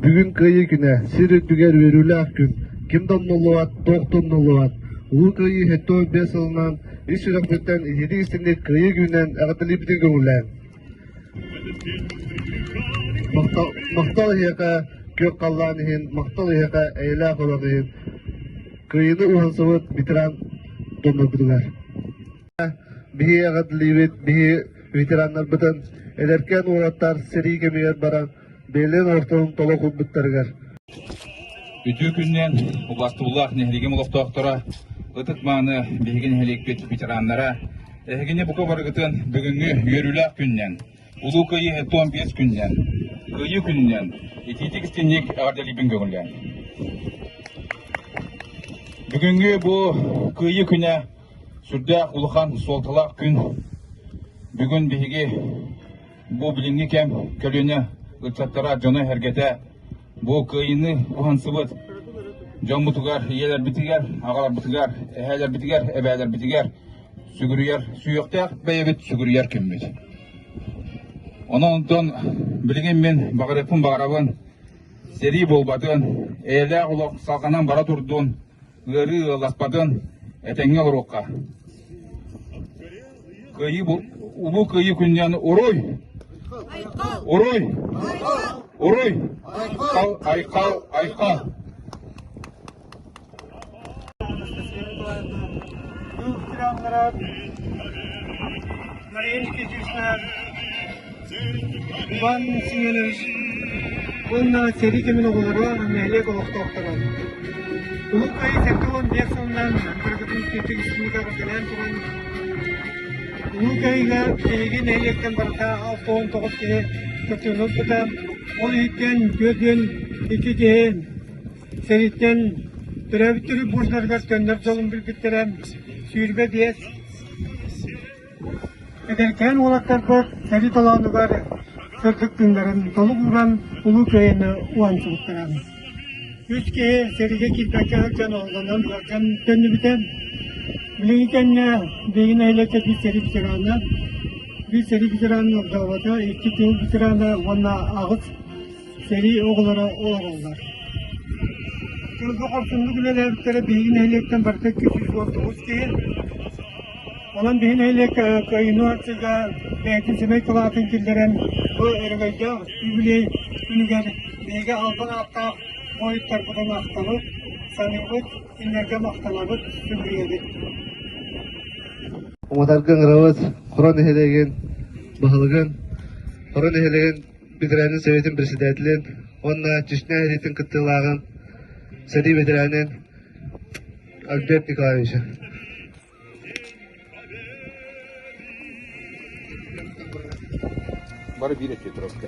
Бүгүн Кыайыы күнэ, сир үрдүгэр үөрүүлээх күн. Ким да умнуллубат, туох да умнуллубат. Улуу Кыайыы сэттэ уон биэс сылынан ис сүрэхпиттэн иһитии истинник Кыайыы күнүнэн эҕэрдэлиибитин көҥүллээн. Махтал, махтал эһиэхэ күөх халлаан иһин, махтал эһиэхэ эйэлээх олох иһин. Кыайыыны уһансыбыт ветеран доноргутугар. биһи эҕэрдэлиибит биһи ветераннарбытын эдэркээн уолаттар сэрии кэмигэр баран бэйэлэрин ортотун толох урбуттарыгар Үтүө күннээн убастуулаах нэһилигим олохтоохторо ытык-мааны биһиги нэһилиэкпит ветераннара эһигини бука барыгытын бүгүҥҥү үөрүүлээх күннэн Улуу Кыайыы тоон биэс күннэн Кыайыы күннэн итиитик-истинник эҕэрдэлиибин көҥүллээн бүгүҥҥү бу Кыайыы күнэ Сүрдээх улахан суолталаах күн. Бүгүн биһиги бу билиҥҥи кэм көлүөнэ ыччаттара дьоно-эһэргэтэ бу кыайыыны уһансыбыт дьоммутугар, ийэлэрбитигэр, аҕаларбытыгар, эһээлэрбитигэр, эбээлэрбитигэр сүгүрүйэр сүһүөхтээх бэйэбит сүгүрүйэр кэммит. Онон билигин мин баҕарыппын баҕарабын сэрии буолбатын, эйэлээх олох салҕанан бара турдун, ыарыы ыласпатын этэҥҥэ оҥоруохха. Кыайыы улуу кыайыы күннээн уруй! Уруй! Уруй! Айкал, айкал! Дух трамнарат, Мария Никитична, Иван Семенович уонна сэрии кэмин оҕолоро нэһилиэк олохтоохторо. Уһук айы сэттэ уон биэс сылынан кыргытын киэптик истиникаҕа төлөөн туран Улуу Кайыга эһиги нэһилиэктэн барыта алта уон тоҕус киһи көтөҕүн ылбыта. Ол иһиттэн түөрт үөн икки киһи сэриттэн төрөөбүт төрүт буурдарыгар төннөр дьолун билбиттэрэ сүүрбэ биэс Эдэркээн уолаттарбыт сэрии толоонугар сырдык тыыннарын толук ууран Улуу Кыайыыны уһансыбыттара. Үс киһи сэриигэ киирбэккэ сылдьан олоҕунан ыалдьан төннүбүтэ. Билиҥҥи кэмҥэ биһиги нэһилиэккэ биир сэрии ветерана, биир сэрии ветерана ордообото, икки тыыл ветерана уонна аҕыс сэрии оҕолоро олороллор. Көлгө хорсуннук үлэлээбиттэрэ биһиги нэһилиэктэн барыта икки сүүс тоҕус киһи. Онон биһи нэһилиэк инновацияга бэйэтин сэмэй кылаатын киллэрэн бу өрөгөйдөөх юбилей күнүгэр биһиги албан ааттаах буойуттарбытын ахтабыт, саныыбыт, кинилэргэ махтанабыт, сүгүрүйэбит. Уматарга Ыҥырабыт Хоро нэһилиэгин баһылыгын Хоро нэһилиэгин бэтэрээнин сэбиэтин председателин уонна Чечня сэриитин кыттыылааҕын сэрии бэтэрээнин Альберт Николаевича. Бары биир өтүө турабыта.